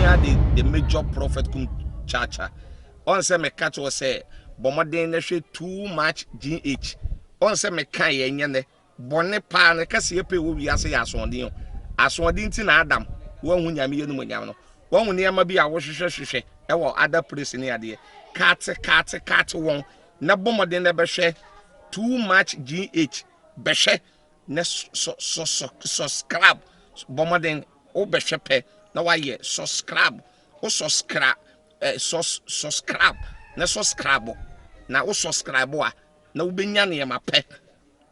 Here the, the major prophet kum chacha. Ɔn sɛ me ka kyerɛ sɛ bɔmɔden na hwɛ too much GH. Ɔn sɛ me ka yɛ nyɛ nɛ bɔne paa ne kɛse yɛ pɛ wɔ wiase yɛ asoɔden o. Asoɔden ti na Adam wɔnhu nyame yɛ numu nyam no. Wɔnhu nneɛma bi a wɔhwehwɛ hwehwɛ ɛwɔ other place ne adeɛ. Kate kate kate wɔn na bɔmɔden na bɛhwɛ too much GH. Bɛhwɛ na sɔ sɔ sɔ subscribe bɔ mmɔden wobɛhwɛ pɛ na wayɛ subscribe wo subscribe eh, sus, subscribe na subscribe na wo subscribe a na wobɛnya nneɛma pɛ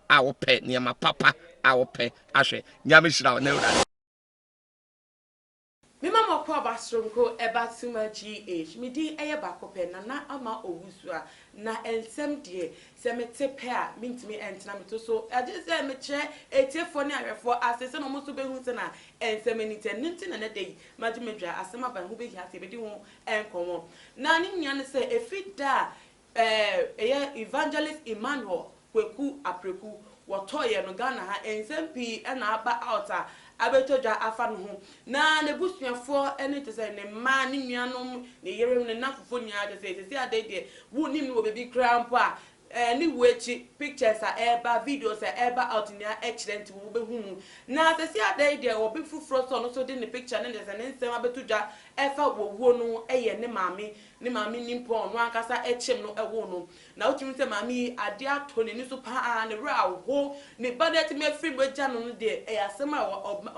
a wopɛ nneɛma papa a wopɛ ahwɛ nyame hyira wo na awurade Me ma mɔkɔ aba soronko ɛba suma GH me din ɛyɛ baako pɛ Nana Ama Owusuaa Na nsɛm deɛ sɛ me te pɛ a me ntumi ntena me to so Agye sɛ me kyerɛ atiefoɔ ne ahwɛfoɔ ase sɛnea wɔn nso bɛhu sɛnea nsɛm ani teɛ Ɛno nti na ɛnɛ da yi magye me dwa Asɛm aba ɛho bɛhia sɛ yɛbɛdi ho nkɔmmɔ Na ne nyinaa ne sɛ ɛfiri da a Ɛɛ ɛyɛ Evangelist Emmanuel Kweku Apreku wɔtɔɔ yɛn no Ghana ha nsɛm pii na aba out a abɛtɔ dwa afa ne ho na n'abusuafoɔ ne kyerɛ sɛ ne mma, ne nuanom, ne yerenom, ne nnamfofoɔ nyinaa kyerɛ sɛ seesei adeɛ deɛ wonnim no wɔ baabi koraa mpo a ɛɛ ne wuo akyi pictures a ɛreba, videos a ɛreba out nyinaa kyerɛ nti wobɛhu mu na seesei adeɛ yi deɛ obi foforɔ nso a ɔno nso de ne picture ne ne kyerɛ sɛ ne nsɛm abɛto dwa ɛfa wɔ wuo no yɛ ne maame Ne maame nni mpo a ɔno ankasa kyem no woo no. Na wotumi hu sɛ maame yi adeɛ atɔ n'ani so pa ara, ne werɛ ahow. Ne ba no atumi afiri mu agya no no deɛ, ɛyɛ asɛm a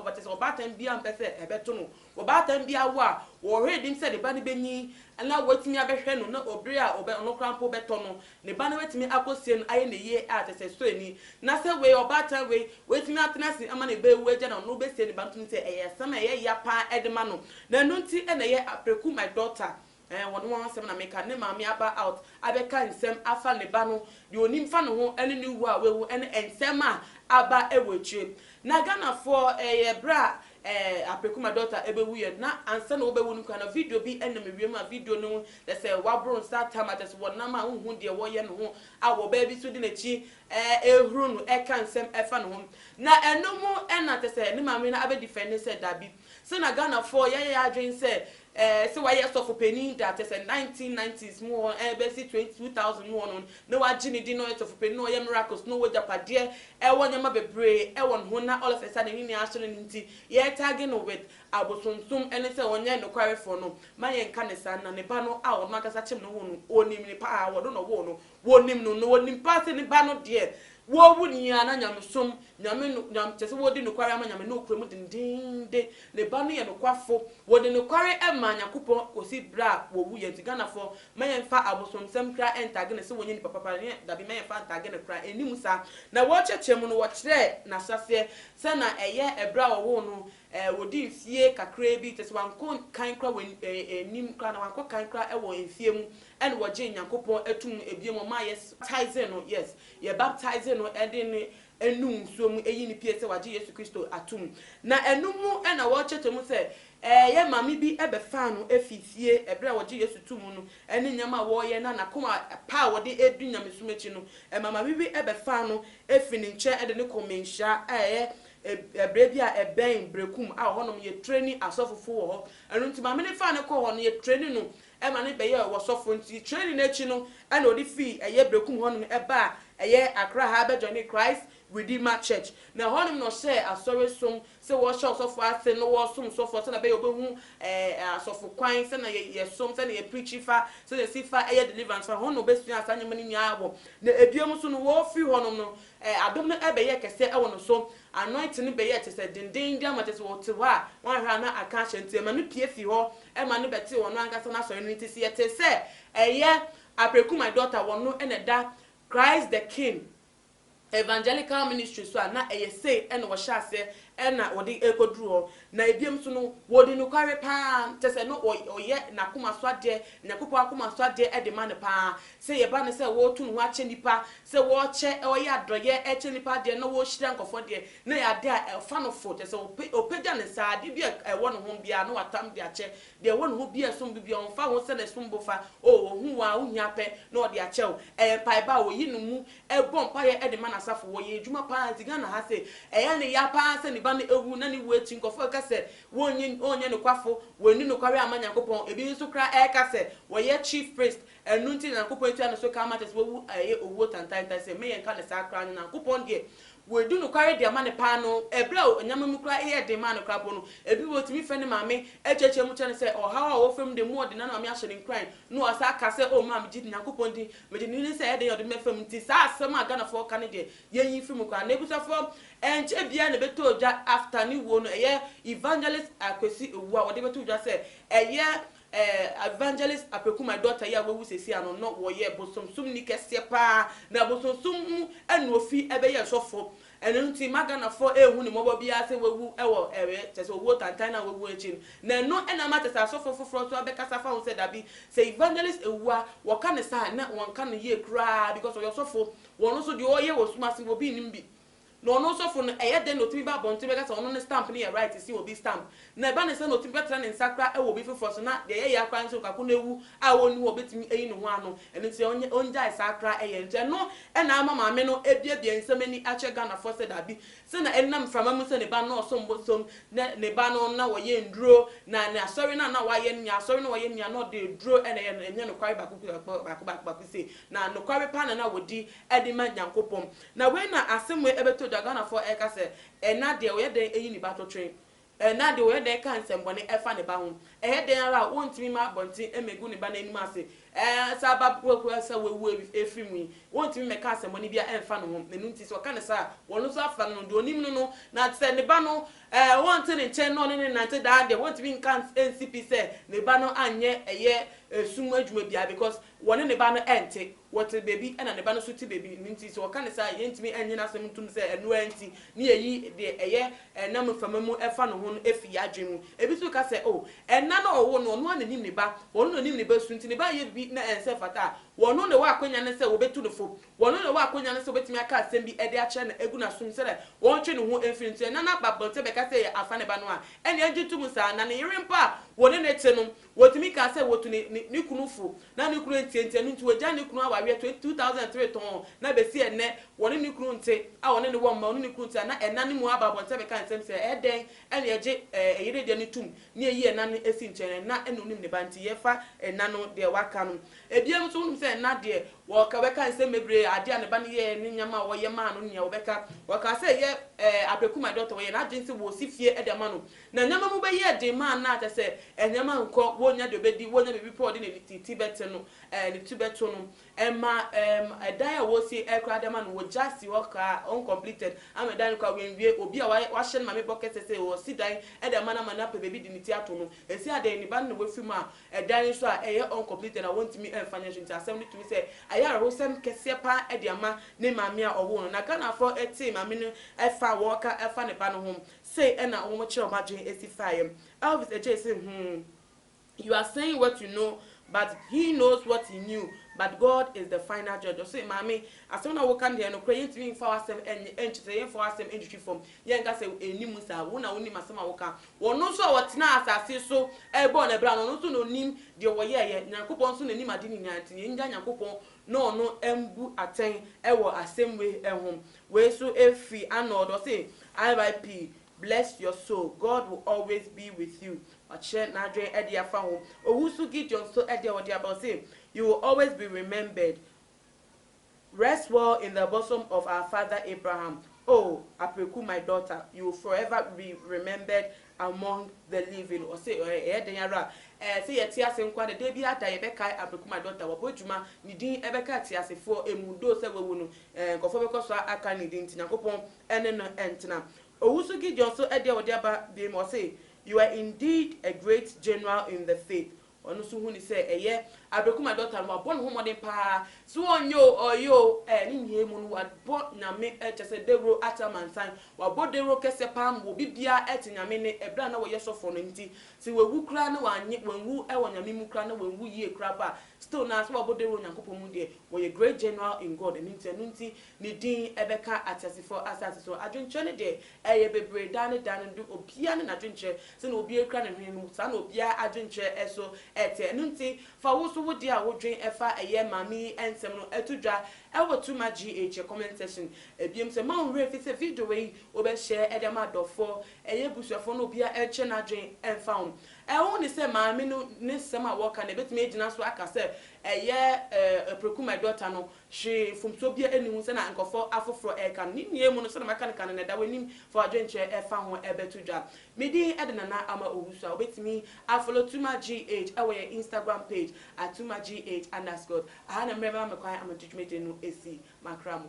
ɔba kyerɛ sɛ ɔbaatan biara mpɛ sɛ ɛbɛto no. Ɔbaatan biara awo a, ɔhwɛ anim sɛ ne ba no bɛnyin na watumi abɛhwɛ no na bere a ɔno koraa mpo bɛtɔ no Ne ba no bɛtumi akɔsie no ayɛ no yie a, kyerɛ sɛ sɔre ni. Na sɛ wei, ɔbaatan wei, watumi atena ase ama ne ba awu agya no, ɔno bɛsie ne ba no tumi sɛ ɛyɛ asɛm a ɛyɛ ya pa ara de ma no. Na ɛno nti na ɛyɛ a, Preku, my daughter, eh, wɔne wɔn asɛm na meka, ne maame aba out abɛka nsɛm afa ne ba no, deɛ ɔnim fa ne ho ne ne wu a wawu ne nsɛm a aba wɔ akyire. Na Ghanafoɔ, ɛyɛ berɛ a Ɛɛ apeku ma dɔkta ɛbɛwu yɛ na ansa na wɔbɛwu no koraa no video bi nam ewiem a video no kyɛ sɛ waboro nsa atam a kyɛ sɛ wɔnam a wonhu deɛ wɔyɛ no ho a wɔbaa bi nso de n'akyi ɛrehuru no ɛreka nsɛm ɛfa ne ho na ɛno ho na kyɛ sɛ ne maame no abɛdifɛnde sɛ dabi sɛ na Ghanafoɔ yɛayɛ yɛn adwene sɛ Ɛɛ sɛ wayɛ sɔfo panin da, kyerɛ sɛ nineteen nineties mu hɔ ɛɛ bɛsi twenty two thousand mu hɔ no, na wagye ne din na ɔyɛ sɔfo panin na ɔyɛ miracles na ɔwɔ agyapadeɛ ɛwɔ nneɛma bebree ɛwɔ ne ho na all of a sudden ne nua ahyɛ no no nti yɛ tagge no with abosonsom ɛne sɛ ɔnyɛ nokwarefoɔ no ma yɛnka ne saa na ne ba no a ɔno ankasa kyem ne ho no ɔnim no paa ɔno na ɔwoo no Wɔnim no, na wɔnim paa sɛ ne Ba no deɛ, wɔawu no yi ara na nyamesom, Nyame no, Nyame, kyerɛ sɛ wɔredi nokware ama Nyame na wɔkura mu dendenden. Ne Ba no yɛ nokwafo. Wɔde nokware maa Nyankopɔn kɔsi berɛ a wɔwuiɛ. Nti Ghanafoɔ, mma yɛmfa abosomsɛm koraa ɛntagge no sɛ wɔnyɛ nipa papa, ne yɛn, dabi, mma yɛmfa ntagge no koraa, ɛnni mu saa. Na wɔrekyerɛkyerɛ mu no, wɔkyerɛɛ n'ahyɛaseɛ sɛ na ɛyɛ ɛberɛ a wɔwoo no, Ɛɛ, wodii mfie kakraa bi, kyerɛ sɛ, wɔankɔ kan koraa wɔ anim koraa, anaa wɔankɔ kan koraa wɔ mfie mu, ɛnna wɔgyee Nyankopɔn toom no bio mu, ɔmaa yɛ baptizee no, yes, yɛ baptizee no de no nu nsuo mu, eyi ne pue sɛ wɔagye Yesu Kristo atom. Na ɛno mu na wɔrekyerɛkyerɛ mu sɛ, ɛɛ, yɛ maame bi bɛfaa no fii fie bere a wɔgyee Yesu too mu no, ɛne nneɛma a wɔreyɛ, na n'akoma pa a wɔde redi nyamesom akyi no, ɛma maame bi bɛfaa no fii ne nkyɛn de no kɔɔ mmanhyia a ɛyɛ Ɛ, bere bi a ɛbɛn bere kum a ɔhɔnom yɛ training asɔfofo wɔ hɔ. Ɛno nti maame no faa no kɔɔ hɔ no, yɛ training no ma no bɛyɛɛ ɔsɔfo. Nti training no akyi no ɛna ɔde fii ɛyɛ bere kum hɔnom baa ɛyɛ Accra ha bɛ joinee Christ Redeemer Church. Na ɛhɔnom na ɔhyɛɛ asɔre som sɛ wɔhyɛ ɔsɔfo ase na wɔsom sɔfo sɛnea ɛbɛyɛ ɔbɛhu ɛ, asɔfo kwan, sɛnea yɛ, yɛsom, sɛnea yɛ preachi fa, sɛnea yɛsi fa yɛ deliverance fa. Ɛhɔ na ɔbɛsuaa saa nneɛma no nyinaa wɔ. Na ɛbiom nso no wɔfiri hɔnom no Ɛ, adom no ɛ bɛyɛɛ kɛseɛ wɔ no so, anointing no bɛyɛɛ kyesɛ dendennden ama kyesɛ wɔ te hɔ a wanhwɛ a na aka ahyɛ nti ɛma no pue fii hɔ ɛma no bɛ tee ɔno ankasa n'asɔre no nti sɛ yɛ tee sɛ ɛyɛ Apreku my daughter wɔ no na ɛda Christ the King Evangelical Ministry so a na ɛyɛ sei na wɔ hyɛ aseɛ na wɔde ɛkɔ duru hɔ Na ebiom nso no, wɔdi nokware paa, kyerɛ sɛ no wɔyɛ n'akoma so adeɛ, Nyankopɔn akoma so adeɛ de ma no paa. Sɛ yɛba no sɛ wɔreto ne ho akyɛ nnipa, sɛ wɔrekyɛ, wɔyɛ adɔeɛ rekyɛ nnipa adeɛ na wɔrehyira nkurɔfoɔ deɛ, na ɛyɛ adeɛ a ɛfa no fo, kyerɛ sɛ ɔpɛ, ɔpagya ne nsa, adeɛ bi a ɛwɔ ne ho biara no watam de akyɛ, deɛ ɛwɔ ne ho biara a ɛsombo biara, ɔmfa ho sɛ n'ɛsombo fa, oh, ɔhu wo ara, wo hia pɛ na ɔde akyɛ wo, ɛyɛ mpaebɔ a wɔyi no mu, ɛbɔ mpaeɛ de ma n'asafo. Wɔyɛ adwuma pa ara nti Ghana ha se, ɛyɛ ne ya pa ara sɛ ne ba no awu na ne wu akyi nkurɔfoɔ reka sɛ wɔnnyɛ ɔnnyɛ nokwafo, wanni nokware amma Nyankopɔn. Ebi nso koraa reka sɛ wɔyɛ chief priest, ɛno nti na Nyankopɔn atua ne so ka ama kyerɛ sɛ wawu a ɛyɛ owuo tantaantan sɛ me yɛnka no saa koraa no Nyankopɔn deɛ wadi nokware de ama no pa ara no ɛberɛ a nneɛma mu koraa reyɛ den maa no koraa mpo no ebi wɔ tumi frɛ ne maame kyeakyea mu kyerɛ no sɛ ɔhaw a ɔwɔ fam de mu ɔde nanoame ahyɛ no nkuran na wasan aka sɛ oh maame gye Nyankopɔn din Megye nni ne sɛ ɛyɛ den yɛ ɔde me fam nti saa asɛm a Ghanafoɔ ka no deɛ yɛnyi firi mu koraa. Na abusuafoɔ ɛnkyɛ biara na ɛbɛtɔ dwa after ne wuo no ɛyɛ Evangelist Akwesi Owuo a wɔde bɛto dwa sɛ ɛyɛ eh Evangelist Apeku my daughter yi a wawu seesei ano no wɔyɛ bosomsomni kɛseɛ paa na bosomsom mu ɛna ofi ɛbɛyɛɛ sɔfoɔ Ɛno nti mma Ghanafoɔ ɛnhu ne mmɔbɔ biara sɛ wawu wɔ ɛɛ kyerɛ sɛ owuo tantan no a wawu akyi no. Na ɛno na ama kyerɛ sɛ asɔfoɔ foforɔ nso abɛkasa afa ho sɛ dabi, sɛ Evangelist ɛwu a, wɔka no saa a na wɔnka no yie koraa because ɔyɛ ɔsɔfo. Wɔn nso deɛ ɔreyɛ wɔ sum ase no obi nnim bi. Na ɔno ɔsɔfo no ɛyɛ dɛn na ɔtumi ba abɔnten bɛka sɛ ɔno ne stamp no yɛ right si obi stamp. Na ɛba no saa na otumi bɛtra ne nsa koraa wɔ obi foforɔ so, na deɛ ɛyɛ ya koraa ne sɛ onipa ko no awu a ɔnni hɔ a ɔbɛtumi ayi ne ho ano, ɛno nti ɔnyɛ ɔngyae saa koraa yɛ. Nti ɛno na ama maame no abuebue nsɛm ani akyerɛ Ghanafoɔ sɛ daabi, sɛ na ɛnam mframa mu sɛ ne ba no na ɔsom bosom, na ne ba no na ɔyɛ nnuro, na ne asɔre no a na wayɛ no nyinaa, asɔre no a ɔyɛ no nyinaa na ɔde aduro na ɛyɛ no, ɛnyɛ nokware baako baako baako baako sei, na nokware paa na na ɔdi de ma Nyankopɔn. Na wei na asɛm wei bɛtɔ dwa, Ghanafoɔ ɛreka sɛ ɛna deɛ ɔyɛ dɛn ayi ne ba totwe, Ɛnnɛ de, wɔyɛ dɛn ka nsɛmmɔne fa ne ba ho? Ɛyɛ dɛn ara a, wontumi mma abɔnten mmegu ne ba no anim ase. Sɛ aba korakora sɛ wawu afiri mu yi, wontumi mmɛka asɛmmɔne biara mfa ne ho. Ɛno nti, sɛ ɔka no saa a, wɔno nso afra no no deɛ ɔnim no no. Na sɛ ne ba no, ɔnte ne nkyɛn na ɔne no nnante daa deɛ, wontumi nka nsi pi sɛ ne ba no anyɛ ɛyɛ sum adwuma biara because Wɔne ne ba no nte. Wɔte baabi na ne ba no nso te baabi. Ɛno nti, sɛ wɔka no saa a, yɛrentumi nnye n'asɛm ntom sɛ ɛno ara nti na yɛayi deɛ ɛyɛ ɛna mu fam mu ɛfa ne ho no afiri yɛn adwene mu. Ebi nso bɛka sɛ, Oh, ɛna no a ɔwoo no, ɔno ara na ɔnim ne ba. Ɔno na ɔnim ne ba su nti ne ba reyɛ biribi na ɛnsɛ ɛmfata a, ɔno na ɔwɔ akwannya no sɛ wɔbɛtu no fo. Ɔno na ɔwɔ akwannya no sɛ ɔbɛtumi aka asɛm bi de akyerɛ no agu n'asom sɛdeɛ ɔntwe ne ho mfiri no. Nti ɛna no aba abɔnten bɛka sɛ yɛafa ne ba no a, ɛnneɛ yɛngye ntom saa. Na ne yere mpo a wɔne no te no, Wɔtumi kaa sɛ wɔtu ne ne ne kunu fo na ne kunu antiantia no nti wɔagyae ne kunu awareɛ 2003 tɔnn na bɛsi ɛnnɛ wɔne ne kunu nte a ɔne ne wɔ mma ɔne ne kunu nte a na ɛna no mu aba abɔnten bɛka nsɛm sɛ ɛyɛ dɛn na yɛgye ɛyere deɛ no tom na yɛyi ɛna no si nkyɛn ɛna na ɔnim ne ba nti yɛfa ɛna no deɛ waka no ɛbiam nso wonim sɛ ɛna deɛ wɔka bɛka nsɛm bebree adeɛ a ne ba no yɛɛ ne nneɛma a ɔyɛ maa no nea wɔbɛka wɔkaa sɛ ɛyɛ ɛɛ abrɛkumadɔtɔ wɔyɛ n'adwene sɛ wɔsi fie de ama no Na nneɛma mu bɛyɛɛ den maa na kyɛ sɛ nneɛma nkɔ, wonnya deɛ ɔbɛdi, wonnya baabi pa a ɔde ne ne ti bɛte no, ɛɛ ne ti bɛto no. Ɛma ɛɛm ɛdan a wɔresie ɛɛ koraa de ama no, wɔgya si hɔ kaa, uncompleted, ama ɛdan no koraa wɔanwie. Obi a wayɛ wahyɛ ne maame bɔ kɛsɛ sɛ ɔresi dan de ama no ama no apɛ baabi de ne ti ato no. Ɛsi adɛn? Ne ba no na wafiri mu a ɛdan nso a ɛyɛ uncompleted na wɔntumi mfa nyɛ hwee nti asɛm no tumi sɛ ayɛ awerɛhosɛm kɛseɛ pa ara de ama ne maame a ɔwoo no. Na Ghanafoɔ tee maame no ɛfa a wɔreka ɛfa ne ba no ho Sei ɛna wɔn kyerɛ wɔn adwene esi faeɛ. Elvis Agyei se hmm, you are saying what you know but he knows what he knew but God is the final judge. Ɔse maame asɛm na woka no deɛ nokorɛ yɛntumi mfa w'asɛm nyɛ ɛnkyɛ sɛ yɛmfa w'asɛm ntwitwi fam yɛnka sɛ ɛnni mu saa. Wo na wonim asɛm a woka. Wɔno nso a wɔtenaa asase so bɔɔ no abira no ɔno nso na ɔnim deɛ wɔyɛeɛ. Nyankopɔn nso na ɔnim ade nyinaa nti yɛngya Nyankopɔn na ɔno mbu atɛn wɔ asɛm wei ho. Wei so ɛfiri Arnold ɔse RIP bless your soul God will always be with you wakyerɛ n'adwen ɛde afa ho owu so Gideon nso ɛdeɛ ɔde aba ɔse you will always be remembered rest well in the bosom of our father Abraham oh Apreku my daughter you will forever be remembered Among the Living, ɔse, Ɛyɛ dɛn ara a, ɛɛ, sɛ yɛte ase nko ara na da biara da yɛbɛkae Abeku my daughter, wabɔ adwuma, ne din bɛka ateasefoɔ mu, though sɛ wawu no, ɛɛ, nkurɔfoɔ bɛkɔ so aka ne din, nti Nyankopɔn ne no ntena. Owu so Gideon so ɛdeɛ a ɔde aba biem, ɔse, You are indeed a great general in the faith, Ɔno nso huni sɛ ɛyɛ aberekum a dɔkta no wabɔ ne ho mmɔden paa sɛ ɔnyɛ o, ɔyɛ o, ɛɛ ne nyinaa mu no wabɔ Nyame ɛ, kyerɛ sɛ dawuro akyɛ amansan, wabɔ dawuro kɛseɛ paa ma obi biara ɛte Nyame nne, ɛberɛ a na ɔyɛ sɔfoɔ no nti sɛ wawu koraa na wanyɛ, wanwu ɛwɔ Nyame mu koraa na wanwu yie koraa mpo a, still no ara sɛ wabɔ dawuro wɔ Nyankopɔn mu deɛ, ɔyɛ great general in God, ɛno nti ɛno nti ne din ɛbɛka ateasefoɔ asase so. Adwenkyerɛ no deɛ Ɛyɛ bebree daa ne daa no de obiara ne n'adwenkyerɛ sɛnea obiara kura ne hwene no mu saa na obiara adwenkyerɛ nso te ɛno nti fa wo nso wo deɛ a wodwen ɛfa ɛyɛ maame yi nsɛm no to dwa ɛwɔ to ma GH comment section ɛbiom sɛ mma wo werɛ mfi sɛ video wei wobɛ share de ama adɔfoɔ ɛyɛ abusuafoɔ na obiara nkyerɛ n'adwen mfa ho ɛho ne sɛ maame no ne nsɛm a wɔka no ɛbɛtumi agyina so aka sɛ ɛyɛ ɛɛ Apreku my daughter no Hwee mfomsoɔ biara nni ho sɛdeɛ nkurɔfoɔ afoforɔ reka no. Ne nyinaa mu no, sɛdeɛ maka no kan no, na ɛda w'anim fa w'adwenkyerɛ fa ho bɛto dwa. Me din de Nana Ama Owusu a wobɛtumi a follow Tuma GH wɔ yɛn Instagram page at Tuma GH underscore. Aha na mmerɛ bɛma me kwan ama de dwumadie no asi m'akra mu.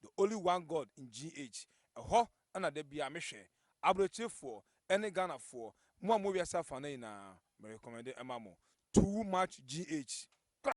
The Only One God ngh ɛhɔ na da biaa me hwɛ Abrokyefoɔ ɛne Ghanafoɔ mo a mo wɔ wiase afaana nyinaa me recommende ɛma mo too much gh.